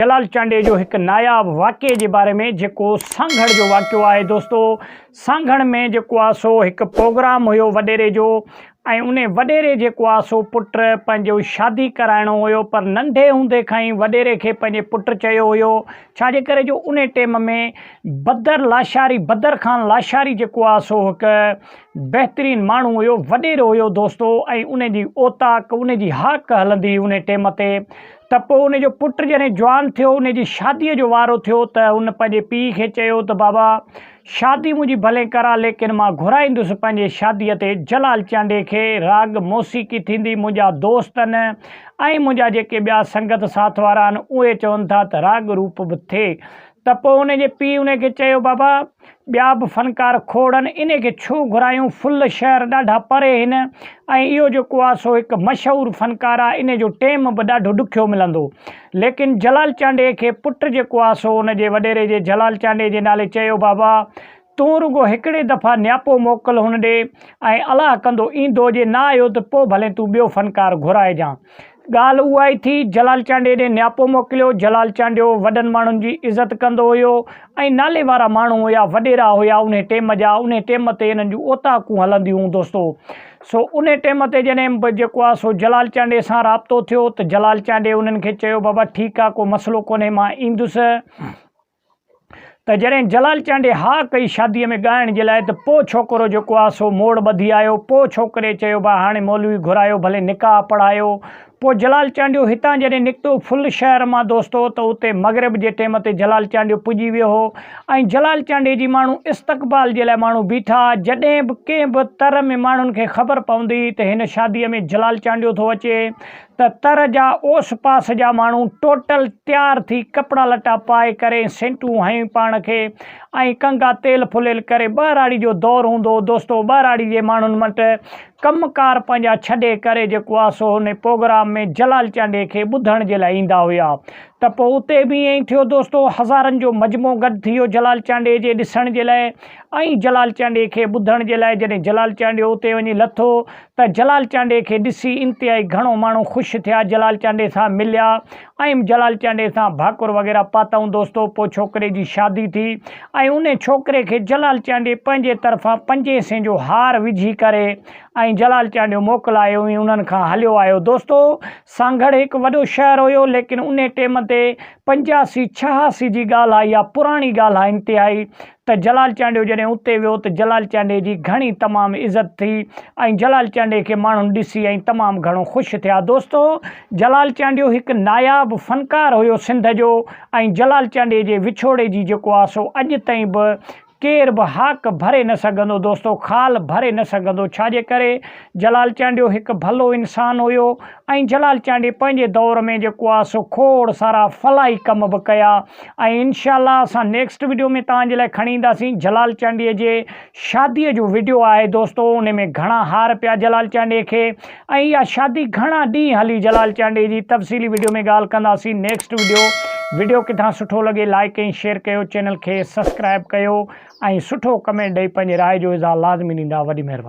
جلال چانڊيي جو هڪ ناياب واقعي جي باري ۾ جيڪو سانگهڙ جو واقعو آهي دوستو سانگهڙ ۾ جيڪو آهي سو هڪ پروگرام هيو وڏيري جو ۽ ان وڏيري جيڪو آهي سو پٽ پنهنجو شادي ڪرائڻو هيو پر ننڍي هوندي کان ئي وڏيري کي پنهنجي پٽ چيو هيو ڇا جي ڪري جو ان ٽيم ۾ بدر لاشاري بدر خان لاشاري جيڪو آهي سو هڪ بهترين ماڻهو هيو وڏيرو هيو دوستو ۽ ان جي اوطاق ان جي هاڪ هلندي ان ٽيم تي ته پوء ان جو پٽ جڏهن جوان ٿيو، ان جي شاديء جو وارو ٿيو ته هن پنهنجي پيء کي چيو ته بابا، شادي منهنجي ڀلي ڪراء ليڪن مان گهرائيندس پنهنجي شاديء تي جلال چانڊيي کي، راڳ موسيقي ٿيندي، منهنجا دوست آهن ۽ منهنجا جيڪي ٻيا سنگت ساٿ وارا آهن، اهي چون ٿا ته راڳ روپ به ٿئي. ته پوء ان جي پيء ان کي چيو بابا! ٻيا به فنڪار کوڙن انهي کي ڇو گهرايون فل شهر ڏاڍا پري هن ۽ اهو جيڪو آ سو هڪ مشهور فنڪار آ انهي جو ٽيم به ڏاڍو ڏکيو ملندو ليڪن جلال چانڊئي کي پٽ جيڪو آ سو ان جي وڏيري جي جلال چانڊئي جي نالي چيو بابا تون رڳو هڪڙي دفعا نياپو موڪل هن ڏي ۽ الله ڪندو ايندو جي نه آيو ته پو ڀلين تون ٻيو فنڪار گهرائجان ڳالهه اها ئي ٿي، جلال چانڊيي ڏي نياپو موڪليو، جلال چانڊيو وڏن ماڻهن جي عزت ڪندو هيو ۽ نالي وارا ماڻهو هيا، وڏيرا هيا انهي ٽيم جا، انهي ٽيم تي انهن جون اوطاقون هلنديون هون دوستو، سو انهي ٽيم تي جڏهن به جيڪو آ سو جلال چانڊيي سان رابطو ٿيو ته جلال چانڊيي انهن کي چيو بابا ٺيڪ آ ڪو مسئلو ڪونهي مان ايندس، ته جڏهن جلال چانڊيي ها ڪئي شاديء ۾ ڳائڻ جي لاء ته پوء ڇوڪرو جيڪو آ سو موڙ ٻڌي آيو. پوء ڇوڪري چيو ڀاء هاڻي مولوي گهرايو ڀلي نڪاح پڙهايو. پوء جلال چانڊيو هتان جڏهن نڪتو ڦل شهر مان دوستو ته اتي مغرب جي ٽيم تي جلال چانڊيو پڄي ويو هو ۽ جلال چانڊيي جي ماڻهو استقبال جي لاء ماڻهو بيٺا جڏهن به ڪنهن به تر ۾ ماڻهن کي خبر پوندي ته هن شاديء ۾ جلال چانڊيو ٿو اچي ته تر جا اوس پاس جا ماڻهو ٽوٽل تيار ٿي ڪپڙا لٽا پائي ڪري سينٽون هنيون پاڻ کي ۽ ڪنگا تيل ڦليل ڪري ٻهراڙي جو دور هوندو هو دوستو ٻهراڙي جي ماڻهن مٽ ڪم ڪار پنهنجا ڇڏي ڪري جيڪو آ سو هن پوگرام ۾ جلال چانڊيي کي ٻڌڻ جي لاء ايندا هيا ته پوء اتي به ائين ٿيو دوستو هزارن جو مجموعو گڏ ٿي ويو جلال چانڊيي جي ڏسڻ جي لاء ۽ جلال چانڊيي کي ٻڌڻ جي لاء جڏهن جلال چانڊيو اتي وڃي لٿو ته جلال چانڊيي کي ڏسي انتهائي گهڻو ماڻهو خوش ٿيا جلال چانڊيي سان مليا ۽ جلال چانڊيي سان ڀاڪر وغيره پاتائون دوستو پوء ڇوڪري جي شادي ٿي ۽ انهي ڇوڪري کي جلال چانڊيي پنهنجي طرفان پنجين سين جو هار وجهي ڪري ۽ جلال چانڊيو موڪلايو ۽ انهن کان هليو آيو دوستو سانگهڙ هڪ وڏو شهر هيو ليڪن انهي ٽيم تي پنجاسي ڇهاسي جي ڳالهه آهي اها پراڻي ڳالهه آهي انتهائي ته جلال چانڊيو جڏهن اتي ويو ته جلال چانڊيي جي گهڻي تمام عزت ٿي ۽ جلال چانڊيي کي ماڻهن ڏسي ۽ تمام گهڻو خوش ٿيا دوستو جلال چانڊيو هڪ ناياب فنڪار هيو سنڌ جو ۽ جلال چانڊيي جي وڇوڙي جي جيڪو آ سو اڄ تائين به ڪير به هاڪ ڀري نه سگهندو دوستو خال ڀري نه سگهندو ڇا جي ڪري جلال چانڊيو هڪ ڀلو انسان هيو ۽ جلال چانڊي پنهنجي دور ۾ جيڪو آ سو کوڙ سارا فلاحي ڪم به ڪيا ۽ انشاء الله اسان نيڪسٽ ويڊيو ۾ توهان جي لاء کڻي اينداسين جلال چانڊي جي شادي جو ويڊيو آهي دوستو ان ۾ گهڻا هار پيا جلال چانڊي کي ۽ اها شادي گهڻا ڏينهن هلي جلال چانڊي جي تفصيلي ويڊيو ۾ ڳالهه ڪنداسين نيڪسٽ ويڊيو ويڊيو ڪٿان سٺو لڳي لائڪ ۽ شيئر ڪيو چينل کي سبسڪرائب ڪيو ۽ سٺو ڪمينٽ ڏئي پنهنجي راء جو اظهار لازمي ڏيندا وڏي مهرباني